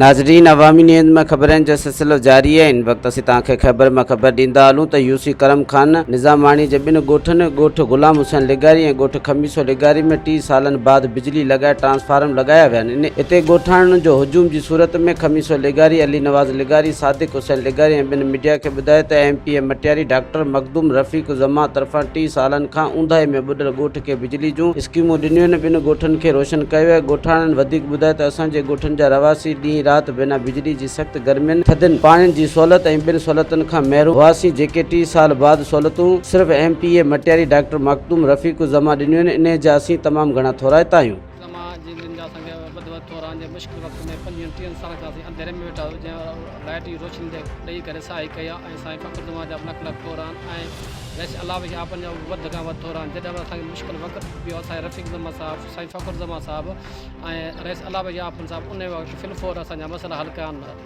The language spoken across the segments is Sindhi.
ناظرين عوامي نيوز ۾ خبرن جو سلسلو جاري آهي ان وقت اسين توهان کي خيبر مان خبر ڏيندا هلون ته يوسي ڪرم خان نظاماڻي جي ٻن ڳوٺن ڳوٺ غلام حسين لغاري ۽ ڳوٺ خميسو لغاري ۾ ٽي سالن بعد بجلي لڳائي ٽرانسفارم لڳايا ويا آهن اتي ڳوٺاڻن جو هجوم جي صورت ۾ خميسو لغاري علي نواز لغاري صادق حسين لغاري ۽ ٻن ميڊيا کي ٻڌايو ته M P A Matiari doctor Makhdoom Rafiq Zaman طرفان ٽي سالن کان اونداهي ۾ ٻڏل ڳوٺ کي بجلي جون اسڪيمون ڏنيون، ٻن ڳوٺن کي روشن ڪيو آهي، ڳوٺاڻن وڌيڪ ٻڌايو ته اسان جي ڳوٺن جا رهواسي ڏينهن رات بنا بجلي جي سخت گرمين، ٿڌين، پاڻين جي سهولت ۽ ٻين سهولتن کان محروم هئاسين جيڪي ٽي سال بعد سهولتون صرف M P A Matiari doctor Makhdoom Rafiq Uzzaman ڏنيون آهن، انهي جا اسين تمام گهڻا ٿورائتا آهيون. زما جي دن جا سنگ ٻڌ ٻڌ ٿوران جي مشڪل وقت ۾ پنجين ٽيهن سالن کان اسين انڌيري ۾ ويٺا هيو جنهن لائيٽ جي روشني تي ڏئي ڪري ساهي ڪئي ها ۽ سائين فخر زمان جا به لک لک ٿوران ۽ ويسي الله جي آپن جا به وڌ کان وڌ ٿوران جڏهن به اسان کي مشڪل وقت پيو اسان جي رفيق زمان صاحب سائين فخر زمان صاحب ۽ رئيس الله جي آپن صاحب انهي وقت في الفور اسان جا مسئلا حل ڪيا آهن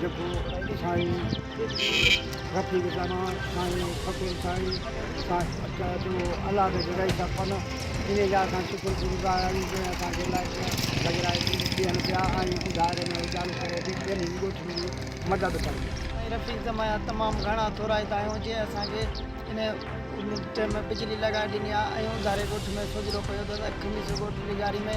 جيڪو سائين رفيق زمان سائين فقير سائين الله جي جڳائي سان پنه انهي جا اسان شڪر گذار آهيون جنهن اسان کي لائٽ لڳرائي ڏين پيا ۽ ان دائري ۾ اجالو ڪري به ٻنهي ڳوٺن جي مدد ڪن. سائين رفيق زمان جا تمام گهڻا ٿورائتا آهيون جنهن اسان کي انهي ٽئم ۾ بجلي لڳائي ڏني آهي ۽ اونداري ڳوٺ ۾ سوجهرو پيو ته اسان کي خميس ڳوٺ لغاري ۾